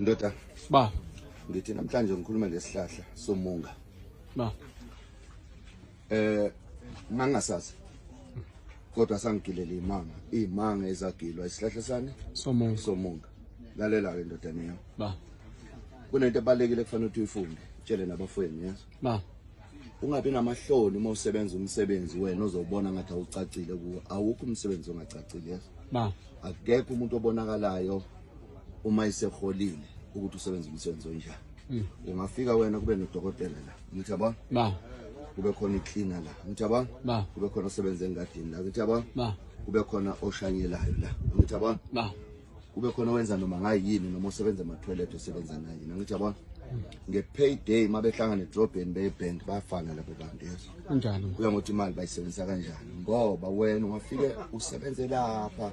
ndoda ba ngithi namhlanje ngikhuluma ngesihlahla somunga ba eh mangasazi kodwa sangigilele imanga imanga ezagilwa isihlahla sani somunga somunga lalela ke ndodana yami ba kunento ebalekile kufanele ukuthi uyifunde tshele nabafweni yazi Ma, ungabi namahloni uma usebenza umsebenzi wena ozobona ngathi awucacile kuwo. Awukho umsebenzi ongacacile, yes? Ma, akekho umuntu obonakalayo uma iseholile ukuthi usebenza umsebenzi onjani. Mm. Ungafika wena kube nodokotela la. Ngithi yabona? Ma, kube khona icleaner la. Ngithi yabona? Ma, kube khona osebenza engadini la. Ngithi yabona? Ma, kube khona oshanyelayo la. Ngithi yabona? Ma, kube khona owenza noma ngayini noma osebenza ema-toilet osebenza naye nangithi yabona nge-payday uma behlangana edrobheni beye-bank bayafana labo bantu yezo kanjalo kuya ngokuthi imali bayisebenzisa kanjani ngoba wena ungafike usebenze lapha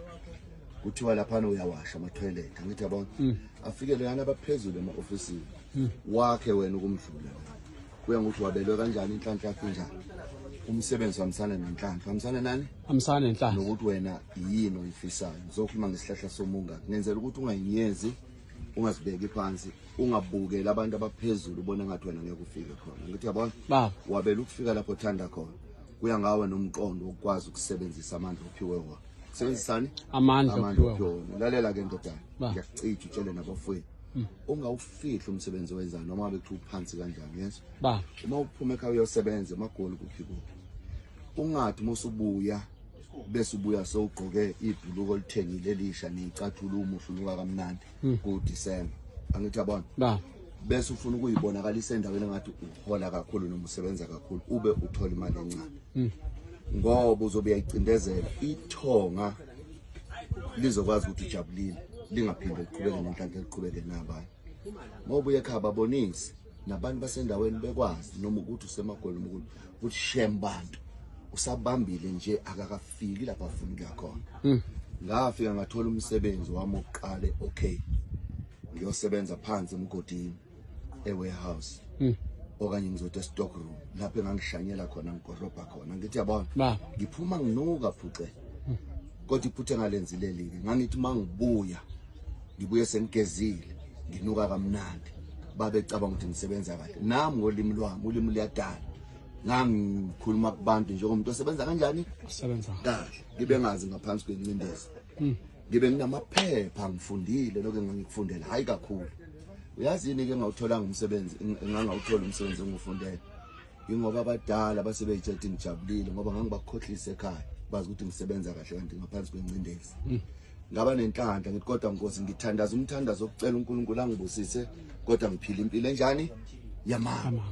kuthiwa laphana uyawasha ama-toilet angithi yabona mm. afike loyana abaphezulu ema-ofisini mm. wakhe wena ukumdlula kuya ngokuthi wabelwe kanjani inhlanhla yakho njani umsebenzi hambisana nenhlanhla hambisana nani hambisana nenhlanhla nokuthi wena yini oyifisayo ngizokhuluma ngesihlahla somunga ngenzela ukuthi ungayinyezi ungazibeki phansi ungabukeli abantu abaphezulu ubona ngathi wena ngeke ufike khona ngithi yabona baba wabela ukufika lapho uthanda khona kuya ngawe nomqondo wokukwazi ukusebenzisa amandla ophiwe wona sebenzisani amandla ophiwe wona lalela ke ndodana ngiyakucija utshele nabafowethu Hmm. ungawufihli umsebenzi owenzayo noma bekuthiwa uphansi kanjani yes ba uma uphuma ekhaya uyosebenza emagoli kuphi kuphi ungathi uma usubuya bese ubuya sowugqoke ibhuluko olithengile elisha neyicathula umuhle unuka kamnandi hmm. kuDecember angithi yabona ba bese ufuna ukuyibonakalisa endaweni engathi uhola kakhulu noma usebenza kakhulu ube uthola imali encane hmm. ngoba uzobe uyayicindezela ithonga lizokwazi ukuthi ujabulile lingaphinde liqhubeke nenhlanhla eliqhubeke nabanye uma ubuye ekhaya babonise nabantu basendaweni bekwazi noma ukuthi usemagoli noma ukuthi ukuthi shem bantu usabambile nje akakafiki lapha afuna ukuya khona hmm. ngafika ngathola umsebenzi wami oqale okay ngiyosebenza phansi emgodini ewarehouse mm. okanye ngizothi estock room lapho engangishanyela khona ngigorobha khona ngithi yabona ngiphuma nginuka phuce hmm. kodwa iphutha engalenzilelike ngangithi uma ngibuya ngibuye sengigezile nginuka kamnandi babecabanga ukuthi ngisebenza kahle nami ngolimi lwami ulimi luyadala ngangikhuluma kubantu njengomuntu osebenza kanjani usebenza kahle ngibe ngazi ngaphansi kwencindezi hmm. ngibe nginamaphepha ngifundile lokho engangikufundela hayi kakhulu uyazini ke ngawutholanga umsebenzi ngangawuthola umsebenzi engufundele ingoba abadala basebeyithe ukuthi ngijabulile ngoba ngangibakhohlisa ekhaya bazi ukuthi ngisebenza kahle kanti ngaphansi kwencindezi hmm. ngaba nenhlanhla ngithi kodwa nkosi ngithandaza umthandazo okucela uNkulunkulu angibusise kodwa ngiphile impilo enjani yamanga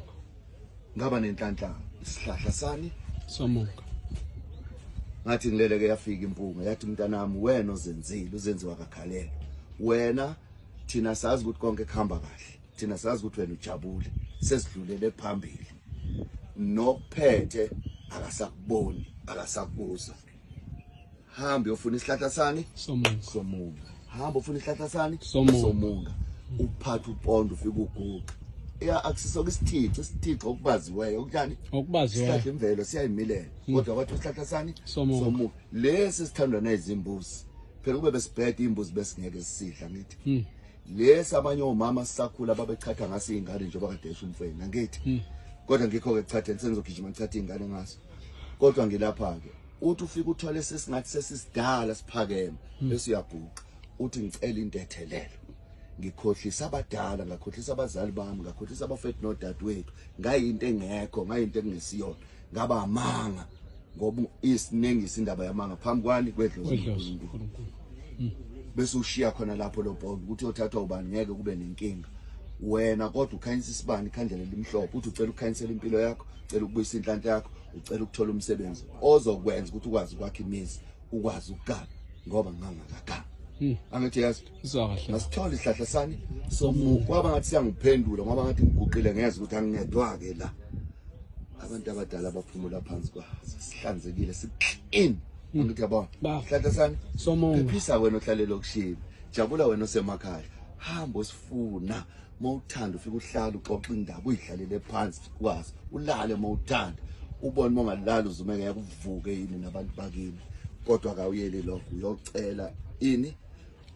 ngaba nenhlanhla isihlahla sani somuka ngathi ngileleke yafika impunga yathi mntanami wena ozenzile uzenziwa kakhalela wena thina sazi ukuthi konke kuhamba kahle thina sazi ukuthi wena ujabule sesidlulele phambili nokuphethe akasakuboni akasakubuza hamba uyofuna isihlahla sani somunga somunga hamba ufuna isihlahla sani somunga uphatha upondo ufika uguqa ya akusisoke isithixo isithixo okubaziweyo okuthani okubaziweyo sihlahla imvelo siyayimilela hmm. kodwa kwathi usihlahla sani somuka lesi sithandwa nezimbuzi phela kube besibhede imbuzi besingeke sisidla ngithi hmm. lesi abanye omama sisakhula babechatha ngase ingane njengoba kade esho umfweni ngithi hmm. kodwa ngikho ke chatha sengizogijima ngichatha ingane ngaso kodwa ngilapha ke uthi ufika uthole sesingathi sesisidala siphakeme hmm. bese uyabhuqa uthi ngicela intethelelo ngikhohlisa abadala ngakhohlisa abazali bami ngakhohlisa abafethu nodadewethu ngayinto engekho ngayinto engesiyona ngaba amanga ngoba isinengisa indaba yamanga phambi kwani kwedlozinkulunkulu hmm. bese ushiya khona lapho lo bond ukuthi othathwa ubani ngeke kube nenkinga wena kodwa ukhanyisa isibani ikhandlela elimhlophe uthi ucela ukukhanyisela impilo yakho ucela ukubuyisa inhlanhla yakho ucela ukuthola umsebenzi ozokwenza ukuthi ukwazi ukwakha imizi ukwazi ukugana ngoba ngangakagana hmm. angithi yazi ngasithole isihlahla sami kwaba ngathi siyangiphendula ngoba ngathi ngiguqile ngezwa ukuthi angingedwa-ke la abantu abadala baphumula phansi kwa sihlanzekile siclean hmm. angithi yabona sihlahla sani phephisa wena ohlalela okushile jabula wena osemakhaya hamba osifuna uma uthanda ufike uhlale uxoxe indaba uyidlalele phansi kwazi ulale uma uthanda ubone uma ungalali uzumeke yakuvuke yini nabantu bakini kodwa kawuyeli lokho uyocela ini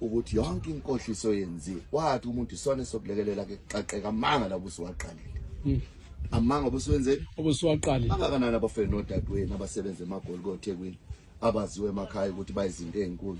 ukuthi yonke inkohliso yenziwe wathi umuntu isona sokulekelela ke xaqeka amanga la busiwaqalile hmm. amanga obusiwenzeni obusiwaqalile abakanani abafeni nodadewenu abasebenza emagoli kothekwini abaziwe emakhaya ukuthi bayizinto ezinkulu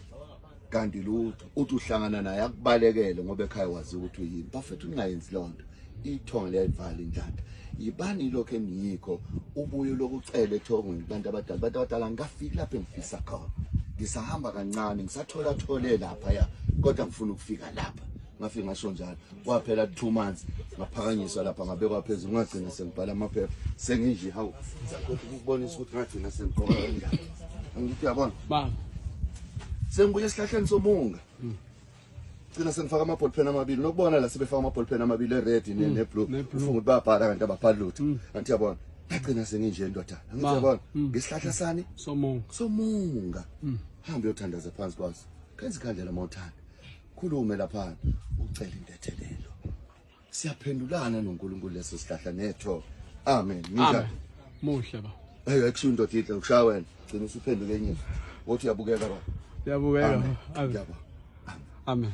kanti lutho uthi uhlangana naye akubalekele ngoba ekhaya wazi ukuthi uyini bafethu ningayenzi lonto ithongo liyayivali njani yibani lokho engiyikho ubuye lokucela ethongweni kubantu abadala abantu abadala ngikafiki lapho engifisa khona ngisahamba kancane ngisathola thole lapha ya kodwa ngifuna ukufika lapha ngafike ngasho njalo kwaphela two months ngaphakanyiswa lapha ngabekwa phezulu ngagcina sengibhala amaphepha senginje hawu sakhothi ukubonisa ukuthi ngagcina sengiqoka kanjani angithi yabona baba sengibuye esihlahleni somunga mm. gcina sengifaka ama-ball pen amabili nokubona la sebefaka ama-ball pen amabili e-red mm. ne-blue ufunga ukuthi bayabhala kanti ababhali lutho mm. angithi yabona ngagcina senginje ndodana angithi yabona mm. ngesihlahla sani somunga hambe uyothandaza phansi kwaso kenza ikhandlela uma uthanda khulume laphana ucele intethelelo siyaphendulana noNkulunkulu leso sihlahla netho amen nginjani muhle ba hey akusho indoda ihle ushaya wena gcina usuphenduke enye wothi uyabukeka ba uyabukeka amen amen